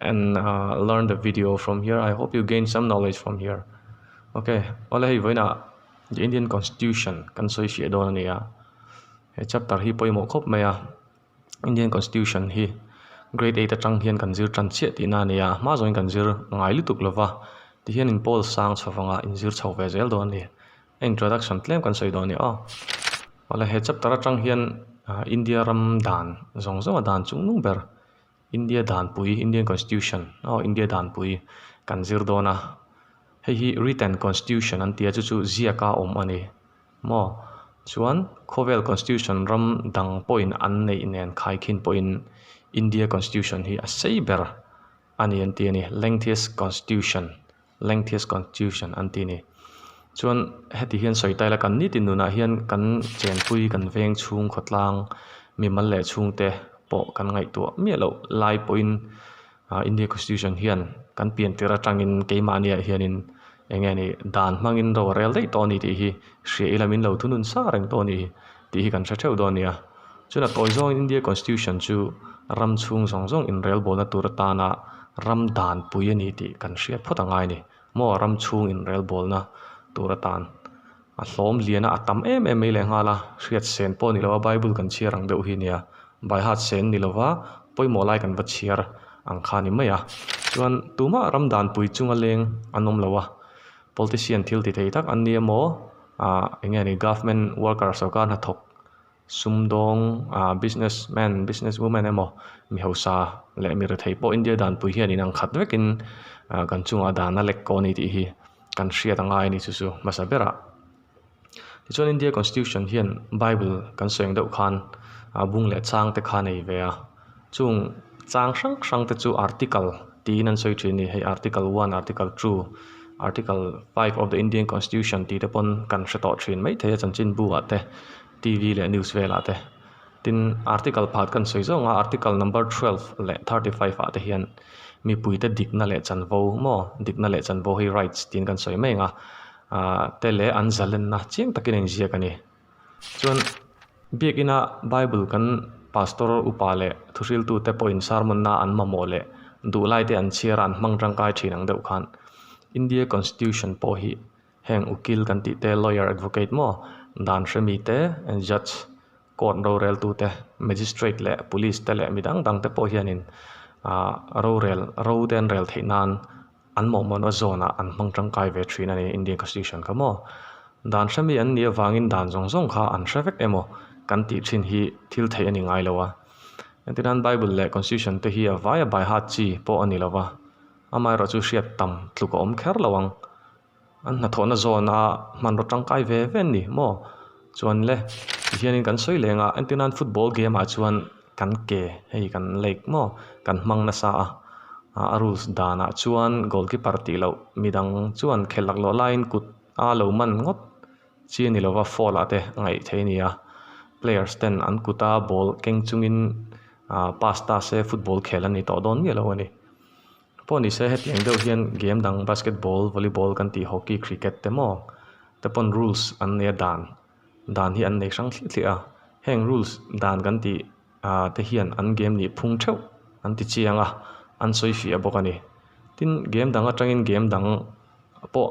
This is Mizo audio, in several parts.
and learn the video from here i hope you gain some knowledge from here ok awle hei vawiin ah the Indian constitution kan sawi hriat dawn a ni a he chapter hi pawimawh khawp mai a Indian constitution hi grade eight atang hian kan zir tan chiah tihna a ni a hma zawngin kan zir ngai lutuk lo va tihian in pawl sang chho vang a in zir chho ve zel dawn a ni a introduction tlem kan sawi dawn a ni aw awle he chapter atang hian India ram dan zawng zawng a dan chung nung ber India danpui, Indian Constitution, aw India danpui kan zir dawn a, hei hi Written Constitution an tia chu chu ziaka awm a ni maw chuan khawvel Constitution ram dang pawhin an neih nen khai khin pawhin India Constitution hi a sei ber a ni entir a ni, Lengthiest Constitution Lengthi's constitution an ti a ni. Chuan heti hian sawi ta ila kan ni tin nunah hian kan chenpui kan veng chhung khawtlang mimal leh chhungte pawh kan ngaihtuah miah loh lai pawhin ah India constitution hian kan pian tir atangin keimahniah hianin eng nge ni dan hmangin ro rel daih tawh a ni tih hi hria ila min lo thunun sa reng tawh a ni. Tih hi kan hre theuh dawn a nia. Chuan a tawi zawngin India Constitution chu ram chhung zawng zawng inrelbawlna tur atana ram danpui a ni tih kan hriat phawt a ngai a ni. Maw ram chhung inrelbawlna tur atan a hlawmliana a tam em em mai leh nghal a, hriatsen pawh a ni lo a, Bible kan chhiar ang deuh hi a nia. Baihat sen ni lova pawimawh lai kan va chhiar ang kha a ni mai a. Chuan tumah ram danpui chunga leng an awm lo a, politician thil ti thei tak an nia maw, ah eng nge ni government worker sawrkar hnathawk sumdawng ah business man business woman emaw mihosa leh mirethei pawh india danpui hian inang khat vekin ah kan chungah dan a lekkaw a ni tih hi kan hriat a ngai a ni chu chu hmasa berah tichuan india constitution hian bible kan sawi ang deuh khan ah bung leh changte kha a nei ve a. Chung chang hrang hrang te chu article tiin an sawi thin a ni. Hei article one, article two, article five of the Indian constitution tih te pawn kan hre tawh thin mai thei a chanchinbu ah te TV leh news vel ah te. Tin article pakhat kan sawi zawng a article number twelve leh thirty five ah te hian mipui te dikna leh chanvo maw dikna leh chanvo hi rights tiin kan sawi mai ang a ahh te leh an zalenna chiang takin a inziak a ni. Chuan biakina Bible kan pastor upa leh thuhriltute pawhin sermonna an mamawh leh duhlaite an chhiar a, an hmang tangkai thin ang deuh khan. India Constitution pawh hi heng ukil kan tih te, lawyer, advocate maw, dan hre mi te, judge, court rorel tu te, magistrate leh police te leh midang dangte pawh hianin rorel, rote an rel theih nan, An mawhmawn a zawnah an hmang tangkai ve thin a ni Indian Constitution kha maw? Dan hre mi an nih avangin dan zawng zawng kha an hre vek em aw? Kan tih thin hi thil theih a ni ngai lo a. Engti nan Bible leh Constitution te hi a vaia by heart chi pawh a ni lo va, amaherawhchu hriat tam tluk a awm kher lo ang. An hnathawhna zawn a hmanraw tangkai ve ve an nih maw? Chuan le tihianin kan sawi leng a entirna an football game ah chuan kan ke hei kan like maw? Kan hmang nasa a a rules dan ah chuan goal keeper tih loh midang chuan khelh lak loh laiin kut a lo man ngawt chi a ni lo va foul ah te a ngaih thei a ni a players ten an kut a ball keng chungin pass ta se football khel an ni tawh dawn miah lo a ni. Pawh ni se hetiang deuh hian game dang basketball, volleyball kan tih hockey, cricket te maw te pawn rules an nei a dan dan hi an nei hrang thliah thliah a, heng rules dan kan tih ah te hian an game nih phung theuh an ti chiang a, an sawi fiah bawk a ni. Tin game dang atangin game dang pawh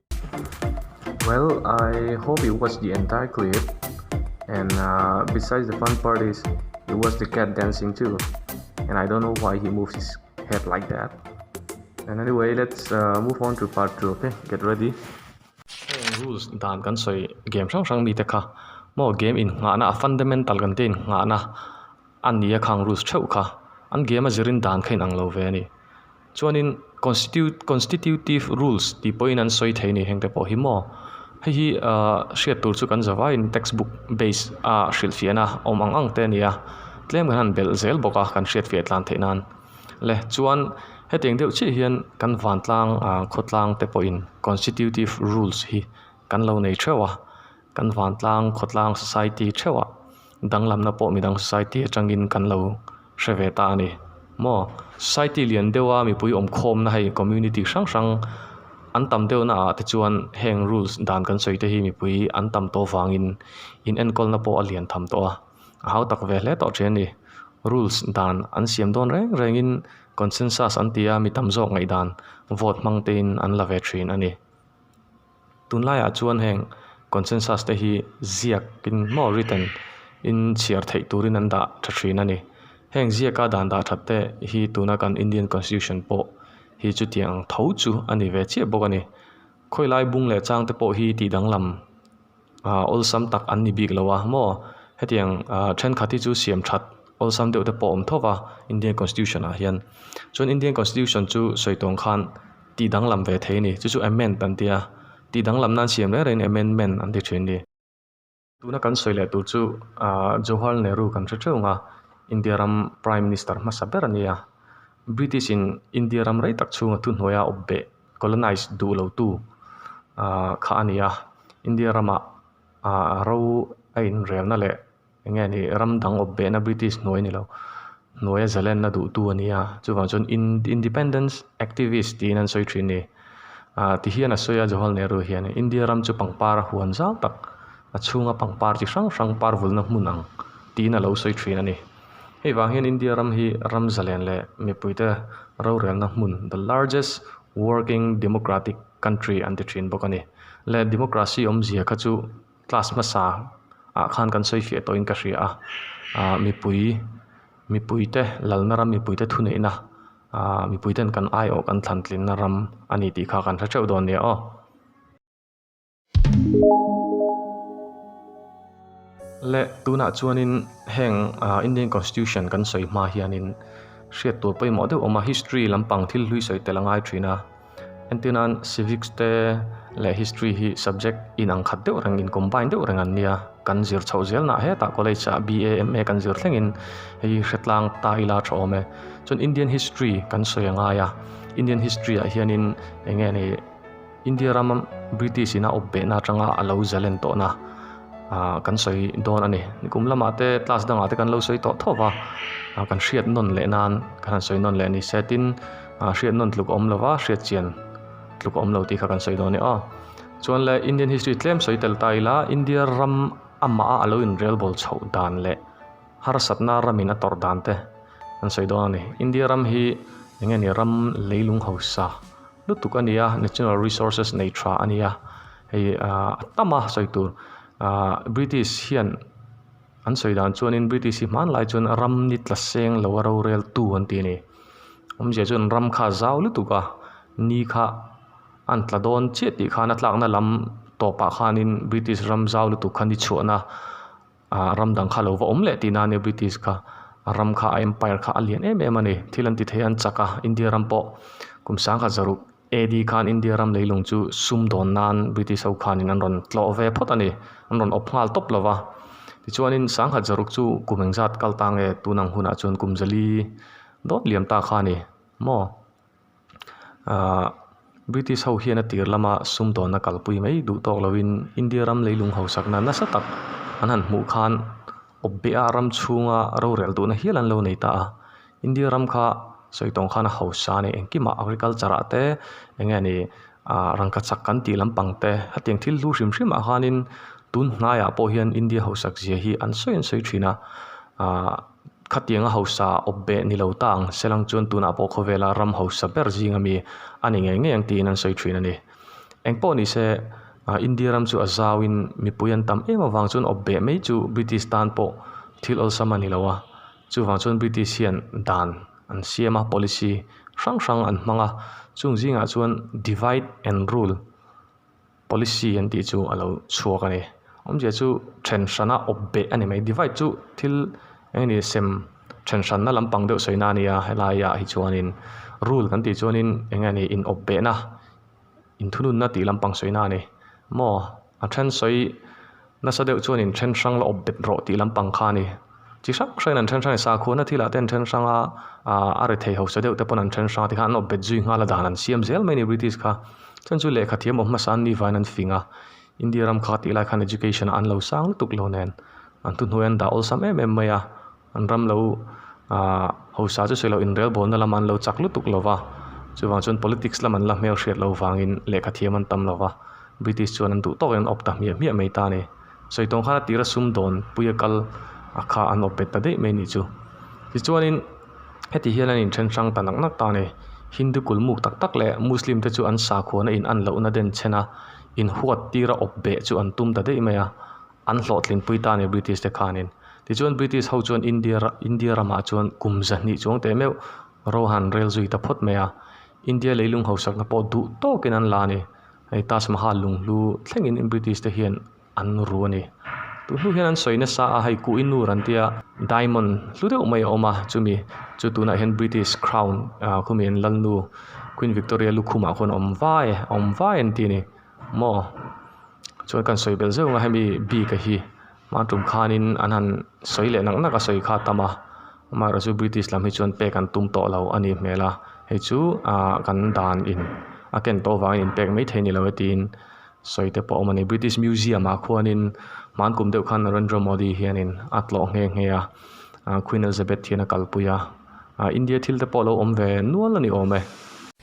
Well I hope you watch the entire clip and uh, besides the fun part is you watch the cat dancing too and I don't know why he moves his head like that and anyway let's uh, move on to part 2 okay get ready rules dan kan soi game sang sang mi te kha mo game in nga na fundamental kan te in nga na an ni a khang rules theuh kha an game a zirin dan kha in ang lo ve ani Chuanin constitutive rules tih pawhin an sawi thei a nih hengte pawh hi maw hei hi aaa hriat tur chu kan za vaiin textbook base a hrilh fiah na awm ang ang te a ni a tlem kan han belh zel bawk a kan hriat fiah tlan theih nan le chuan hetiang deuh chiah hian kan vantlang aaa khawtlang te pawhin constitutive rules hi kan lo nei theuh a. Kan vantlang khawtlang society theuhah danglamna pawh midang society atangin kan lo hre ve ta a ni maw? Society lian deuha mipui awmkhawmna hei community hrang hrang an tam deuh naah te chuan heng rules dan kan sawi te hi mipui an tam tawh vangin inenkawl pawh a lian tham tawh a, a hau tak ve hle tawh ṭhian a ni. Rules dan an siam dawn reng rengin consensus an tia mi tam zawk ngaihdan vote hmang tein an la ve ṭhin a ni. Tunlaiah chuan heng consensus te hi ziakin maw written in chhiar theih turin an dah tha thin a ni. Heng ziaka dan dah that te hi tuna kan Indian Constitution pawh hi chutiang ang tho chu a ni ve chiah bawk a ni. Khawilai bung leh chang te pawh hi tih danglam Aaa awlsam tak an ni bik lo a maw? Hetiang aaa thenkhat hi chu siam that awlsam deuh te pawh awm thawp a Indian Constitution ah hian. Chuan Indian Constitution chu sawi tawng khan tih danglam ve thei a ni. Chu chu amend an tia, tih danglam nan siam reng rengin amendment an ti thin a ni. Tuna kan sawi leh tur chu aaa Jawaharlal Nehru kan hre theuh ang a, India ram Prime Minister hmasa ber a nia. British in India ram rei tak chhunga thuhnuaia awp beh. colonize duh lo tu ah kha a ni a, India ramah ah ro a inrelna leh eng nge ni ram dang awp behna British hnuai ni lo hnuaia zalenna duh tu a ni a, chuvang chuan independence activist tiin an sawi thin ni ah ti hian a sawi a Jawaharlal Nehru hian India ram chu pangpar a huan zau tak a chhunga pangpar chi hrang hrang parvulna hmun ang tiin a lo sawi thin a ni. Hei vang hian India ram hi ram zalen leh mipuite rorelna hmun, the largest working democratic country an ti thin bawk a ni. Leh democracy awmzia kha chu class hmasa ah khan kan sawi fiah tawhin ka hria a, ah mipui, mipuite lalna ram, mipuite thuneihna, ah mipuite'n kan aiawh kan thlantlinna ram a ni tih kha kan hre teuh dawn nia aw. Leh, tunah chuanin heng Indian Constitution kan sawi hma hianin hriat tur pawimawh deuh a awm a, history lampang thil hlui sawi tel a ngai thin a, entirnan civics te leh history hi subject inang khat deuh reng, in combine deuh reng an nia, kan zir chhoh zelnah hetah college ah BA, MA kan zir thlengin hei hretlang ta ila tha awm e. Chuan Indian history kan sawi a ngai a, Indian history ah hianin eng nge ni. India ram British ina awp behna atanga a lo zalh en tawhna kan sawi dawn a ni. Nikum lamah te class dangah te kan lo sawi tawh thawp a, kan hriat nawn leh nan kan han sawi nawn leh a ni se tin hriat nawn tluk a awm lo va, hriat chian tluk a awm lo tih kha kan sawi dawn a ni aw. Chuan le Indian history tlem sawi tel ta ila India ram amah a a lo inrelbawl chhoh dan leh. Harsatna ramin a tawrh dan te an sawi dawn a ni. India ram hi eng nge ni ram lei lung hausa lutuk a ni a, natural resources nei tha a ni a, hei ahh a tam a sawi tur ahh British hian an sawi dan chuanin British hi hman lai chuan ram ni tla seng lo a rorel tu an ti a ni. Awmzia chuan ram kha a zau lutuk a ni kha a an tla dawn chiah tih khan a tlakna lam tawpah khanin British ram zau lutuk kha ni chhuahna Ahh ram dang kha lo va awm leh tih nan nia British kha a ram kha a empire kha a lian em em a ni. Thil an ti thei an chak a, India ram pawh kum sangkhat zaruk AD khan India ram leilung chu sum dawn nan British ho khan in an rawn tlawh ve phawt a ni, an rawn awp nghal tawp lo va. Tichuan in sangkhat zaruk chu kum engzat kal ta nge tun ang hunah chuan kum zali dawt liam ta kha a ni maw? Aah British ho hian a tir lama sumdawnna kalpui mai duh tawk lovin India ram lei lung hausakna nasa tak an han hmuh khan awp bia ram chhunga rorel duhna hial an lo nei ta a, India ram kha sawi tawng khan a hausa a ni engkim a agriculture ah te eng nge ni aah rangkhat sak kan tih lampang te hetiang thil hlu hrim hrim ah khan in tun hnai ah pawh hian India hausak zia hi an sawi an sawi thin a aah-- Khatianga hausa awpbeh ni lo ta ang selang chuan tunah pawh khawvela ram hausa ber zing a mi a ni ngei ngei ang tiin an sawi thin a ni. Engpawh ni se India ram chu a zauin mipui an tam em avang chuan awpbeh mai chu British tan pawh thil awlsam a ni lo a, chuvang chuan British hian dan an siam a, policy hrang hrang an hmang a, chung zingah chuan divide and rule. Policy an tih chu a lo chhuak a ni. Awmzia chu then hrana awpbeh a ni mai. Divide chu thil eng nge ni sem then hranna lampang deuh sawina a ni a, helaiah hi chuanin rule kan tih chuanin eng nge ni inawpbehna, inthununna tih lampang sawina a ni. Maw a then sawi. Nasa deuh chuan in then hrang la awp bet rawh tih lampang kha a ni. Chi hrang hrangin an then hrang a ni. Sakhuana thil ah te an then hrang a, ah a rethei hausa deuh te pawh an then hrang a, tikhan an awp bet zui nghal a dan an siam zel mai a ni British kha. Chuan chu lehkha thiam awm hmasa an ni vain an fing a. India ram kha ka tih lai khan education ah an lo sang lutuk lo nen an thuhnuaiah an dah awlsam em em mai a. An ram lo hausa chu silo inrelbawlna lama an lo chak lutuk lo va, chuvang chuan politics lam an la hmel hriat lo vangin lehkha thiam an tam lo va, British chuan an duh tawkin an awp ta hmiah hmiah mai ta ni. Sawi tawng khan a tira sum dawn pui a kal a kha an awp bet ta daih mai ni chu. Tichuanin heti hian an inthen hrang ta nak nak ta ni. Hindu kulmuk tak tak leh Muslim te chu an sakhuana in an lohna den chhena inhuat tira awp beh chu an tum ta daih mai a. An hlawhtlinpui ta nia British te khanin. Tichuan British ho chuan India ra India ramah chuan kum zahnih chuang teh meuh ro han rel zui ta phawt mai a. India leilung hausakna pawh duh tawkin an la a ni. Hei Taj Mahal lung hlu thlengin British te hian an ru a ni. Tun hnu hian an sawi nasa a, hei Kuh i Nur an tia diamond hlu deuh mai a awm a, chumi chu tunah hian British Crown ah khumi an lal nu Queen Victoria lukhumah khawn a awm vai a awm vai an ti a ni. Maw? Chuan kan sawi belh zeuh ang a hemi bika hi hmang tum khanin an han sawi leh nak nak a sawi kha tam a, amaherawh chu British lam hi chuan pek an tum tawh lo a nih hmel a, hei chu ah kan dan in a ken tawh vangin in pek maithei ni lo e tiin sawi te pawh a awm a ni. British Museum ah khuanin hmang kum deuh khan Narendra Modi hianin a tlawh nghe nghe a, Queen Elizabeth hian a kalpui a, India thil te pawh lo awm ve nual a ni awm e.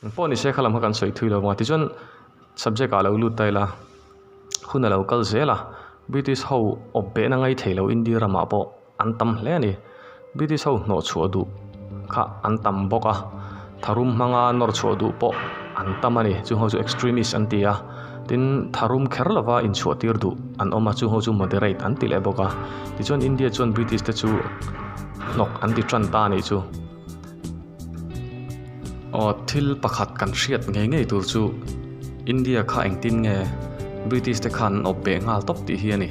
An pawh ni se kha lam kha kan sawi thui lo va, tichuan subject ah lo lut ta ila hun alo kal zel a, British ho awp behna ngai thei lo India ramah pawh an tam hle a ni, British ho hnawh chhuah duh kha an tam bawk a, tharum hmanga nawr chhuah duh pawh an tam a ni, chung ho chu extremist an ti a, tin tharum kher lova inchhuah tir duh an awm a, chung ho chu moderate an ti leh bawk a, tichuan India chuan British te chu hnawk an ti tan ta a nih chu. Aw thil pakhat kan hriat ngei ngei tur chu India kha engtin nge British te khan an awp beh nghal tawp tih hi a ni.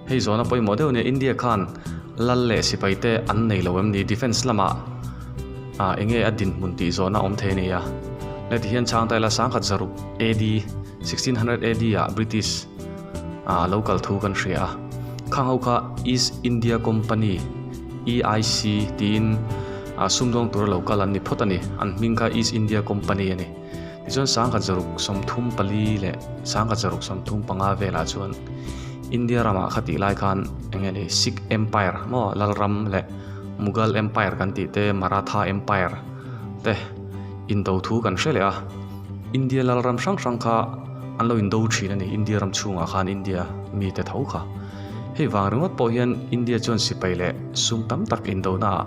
Hei zawhna pawimawh deuh nia India khan lal leh sipai te an nei lo em ni? Defence lama ah enge a dinhmun tih zawhna awm thei a ni a. Hne tihian Changtaila sangkhat zaruk AD sixteen hundred AD ah British ah a lo kal thu kan hria a. Khang ho kha East India Company. EIC tiin a sumdawng tura lo kal an ni phawt a ni. An hming kha East India Company a ni. Tichuan sangkhat zaruk sawmthum pali leh sangkhat zaruk sawmthum panga velah chuan India ramah kha tih lai khan eng nge ni Sikh Empire maw Lalram leh Mughal Empire kan tih te Maratha Empire te in do thu kan hre leh a. India Lalram hrang hrang kha an lo in do thin a ni India ram chhungah khan India mite tho kha. Hei vang ringawt pawh hian India chuan sipai leh sum tam tak indona ah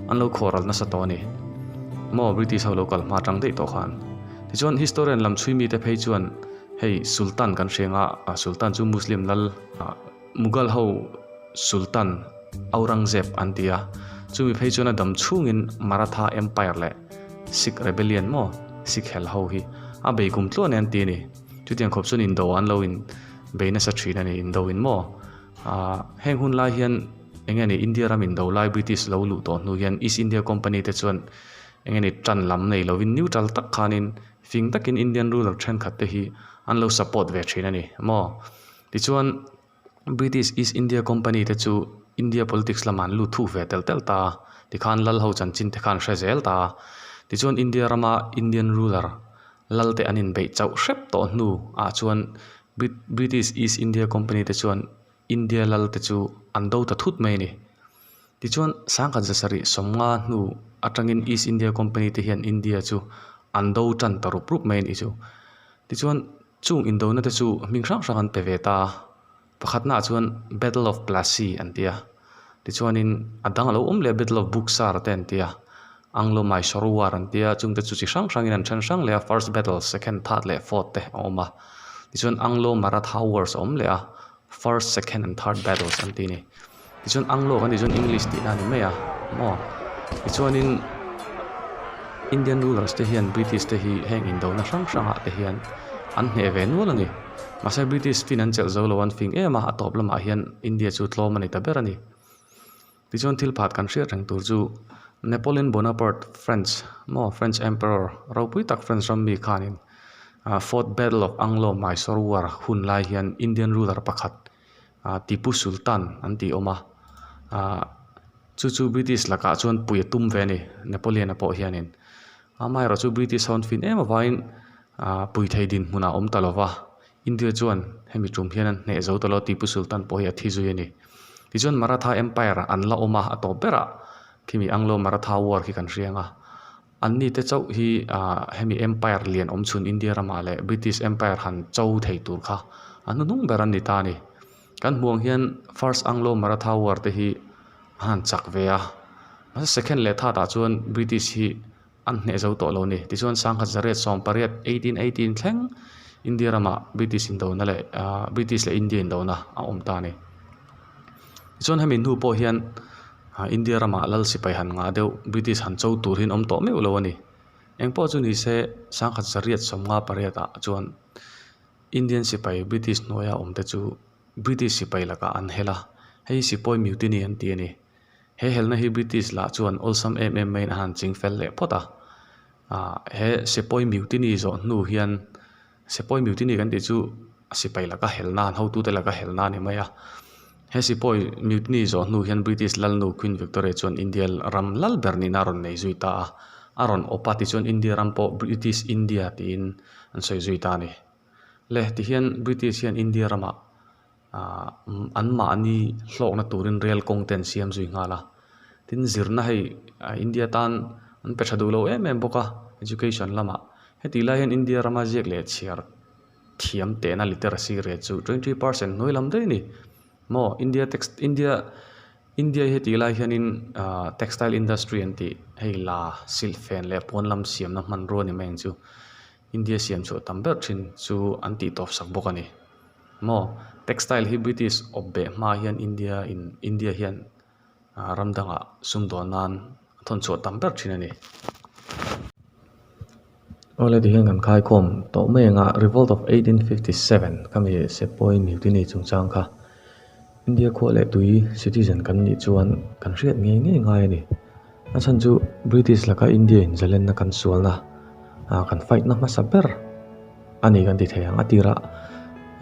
an lo khawral nasa tawh a ni. Maw British ho lo kal hma tang daih tawh khan. Tichuan historian lam chhui mite phei chuan hei Sultan kan hreng a, a Sultan chu Muslim lal a, Mughal ho Sultan Aurangzeb an ti a, chumi phei chuan a dam chhungin Maratha Empire leh Sikh Rebellion maw Sikh hel ho hi a bei kum tluahin an ti a ni. Chutiang khawp chuan indo an lo in bei nasa thin a ni, indo in maw? Aah heng hun lai hian eng nge ni India ram indo lai British lo luh tawh hnu hian East India Company te chuan eng nge ni tan lam nei lo in neutral tak khan in fing tak in Indian ruler thenkhat te hi an lo support ve thin a ni maw? Tichuan. British East India Company te chu India politics lamah an lut thuh ve tel tel ta a, tikhan Lal ho chanchin te khan an hre zel ta a. Tichuan India rama Indian ruler Lal te an inbeih chauh hrep tawh hnu ah chuan British East India Company te chuan India Lal te chu an do ta thut mai a ni. Tichuan sangkhat za sarih sawmnga hnu atangin East India Company te hian India chu an do tan ta rup rup mai a nih chu. Tichuan Chung indona te chu hming hrang hrang an pe ve ta a, pakhatnaah chuan Battle of Plassey an ti a, tichuanin a dang lo awm leh a Battle of Buxar te an ti a, Anglo-Mysore War an ti a, chungte chu chi hrang hrangin an then hrang leh a, First Battle, Second, Third leh Fourth te a awm a, tichuan Anglo-Maratha Wars a awm leh a, first second and third battles an tih a ni tichuan anglo kan tih chuan english tih na a ni mai a maw tichuanin indian rulers te hian british te hi heng in do na hrang hrang ah te hian an hneh ve nual a ni mahse british fin an chelh zo lo an fing em a a tawp lamah hian india chu tlawm a ni ta ber a ni. Tichuan thil phat kan hriat reng tur chu Napoleon Bonaparte French maw French Emperor ropui tak French ram mi khanin ah fourth battle of Anglo Mysore war hun lai hian Indian ruler pakhat ah Tipu Sultan an tih awm a ah chu chu British lakah chuan pui a tum ve a ni Napoleon a pawh hianin amaherawhchu British ho an fin em avangin ah pui thei dinhmunah a awm ta lova. India chuan hemi tum hian an hneh zo ta lo a Tipu Sultan pawh hi a thi zui a ni. Tichuan Maratha Empire an la awm a, a tawp berah khimi Anglo Maratha War khi kan hria ang a. An ni te chauh hi aah hemi Empire lian awm chhun India ramah leh British Empire han cho thei tur kha a hnu hnung ber an ni ta a ni. Kan hmuh ang hian First Anglo Maratha War te hi a han chak ve a, masa second leh third ah chuan British hi, an hneh zo tawh lo ni. Tichuan, Sangha Zaret sawm pariat, eighteen eighteen, thleng India rama British indona leh aah British leh India indona a awm ta a ni. Tichuan, hemi hnu pawh hian aah India rama lal sipai han ngah deuh, British han cho tur hi an awm tawh meuh lo a ni. Engpawh chu ni se, Sangha Zaret sawm nga pariat ah chuan Indian sipai British hnuaia awm te chu British sipai lakah an hel a, hei sipawi miute ni an ti a ni. He helna hi British lah chuan awlsam em em maiin a han ching fel leh phawt a. Aah he Sepoy Mutiny zawh hnu hian, Sepoy Mutiny kan tih chu sipai laka helna, an hotute laka helna a ni mai a. He Sepoy Mutiny zawh hnu hian British lalnu Queen Victoria chuan India ram lal ber nihna a rawn nei zui ta a. A rawn awp a tichuan India ram pawh British India tiin an sawi zui ta a ni. Le tihian British hian India ramah Ahh anmahni hlawkna turin rel kawng te an siam zui nghal a, tin zirna hei India tan an pe tha duhlo em em bawk a education lamah. Heti lai hian India rama ziak leh chhiar thiam tehna literacy rate chu twenty three percent hnuailam daih a ni maw India text India India heti lai hianin ahh textile industry an tih hei la silhfen leh puanlam siamna hmanrua ni mai ang chu. India siam chhuah tam ber thin chu an tih tawp sak bawk a ni. Maw? Textile hi British awp beh hmaah hian India in, India hian ram dangah sum dawn nan a thawn chhuah tam ber thin a ni. Aw le tihian kan khaikhawm tawh mai ang a, Revolt of eighteen fifty seven khami Sepoy mutiny chungchang kha. India khua leh tui citizen kan nih chuan kan hriat ngei ngei ngai a ni. A chhan chu British laka India in Zelenna kan sualna ah kan fight na hmasa ber a ni kan ti thei ang. A tirah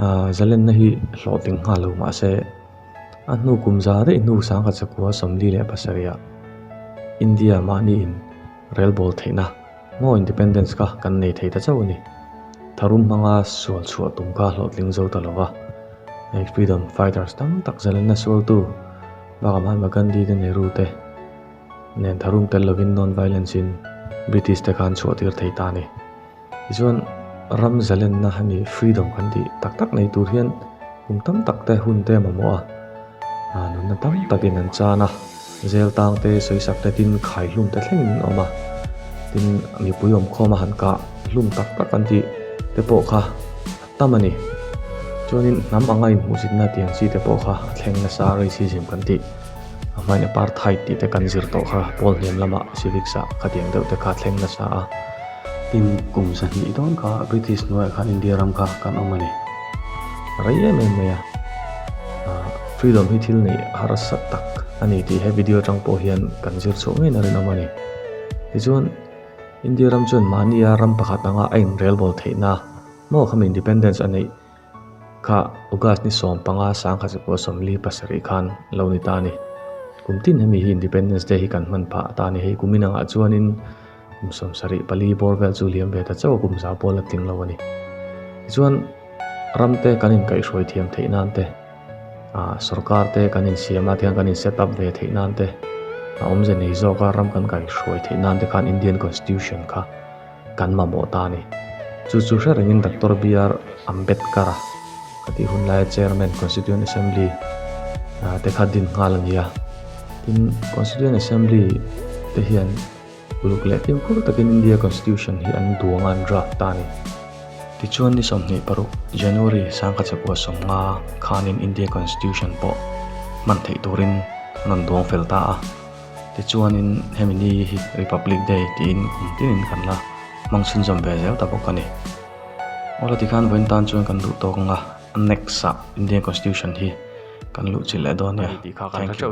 ah Zelenna hi hlawh tling nghal lo mah se a hnu kum za rei hnu sangkhat sakua sawmli leh pasarih ah India mahni in rel bawl theihna. Maw independence kha kan nei thei ta chauh a ni. Tharum hmanga sual chhuah tum kha a hlawhtling zo ta lo va. Hei freedom fighters tam tak Zalena sualtu baka Mahatma Gandhi te Nehru te nen tharum tel lovin non violence in British te khan chhuah tir thei ta a ni. Tichuan ram Zalenna a nih freedom kan tih tak tak nei tur hian kum tam tak te hun te a mamawh a, nunna tam takin an chan a. Zel tang te sawisak te tin khai hlum ta thleng in awm a, tin mipui awmkhawma han kah hlum tak tak an tih te pawh kha a tam a ni. Chuanin hnam anga inhmuhsitna tiang chi te pawh kha a thleng nasa a racism kan tih hmain apartheid tih te kan zir tawh kha Paul hnem lama civics ah khatiang deuh te kha a thleng nasa a, tin kum sahnih dawn kha British hnuaiah khan India ram kha kan awm a ni. a rei em em mai a ah freedom hi thil neih harsa tak a ni tih he video atang pawh hian kan zir chhuah ngeiin a rinawm a ni tichuan india ram chuan mahni a ram pakhat anga a inrel bawl theihna maw khami independence a neih kha august ni sawm panga sangkhat che pawh sawmli pasarih khan lo ni ta a ni kum tin hemi hi independence day hi kan hman phah ata a ni hei kum inangah chuanin. Kum samsarih pali bawr vel chu liam ve ta chauh a kumza pawl a tling lo a ni. Tichuan ram te kan inkaihhruai thiam theih nan te, sorkar te kan insiam nan te khan, kan in set up ve theih nan te, a awmze nei zawk a, ram kan kaihhruai theih nan te khan Indian Constitution kha kan mamawh ta a ni. Chu chu hre rengin Doctor BR Ambedkar-a ka tih hun laia Chairman Constituent Assembly te kha din nghal a ni a. Tin Constituent Assembly te hian. Uluk leh tiu fur takin India Constitution hi an duanga an draft ta a ni. Tichuan ni sawmhnih paruk, January, sangkha chakua sawmnga khanin India Constitution pawh hman theih turin an rawn duang fel ta a. Tichuanin hemi ni hi Republic Day tiin kum tinin kan la hmangchhinzawm ve zel ta bawk a ni. Awla tikhan vawiin tan chuan kan luh tawk anga next-ah Indian Constitution hi kan luh chilh leh dawn nia. Thank you.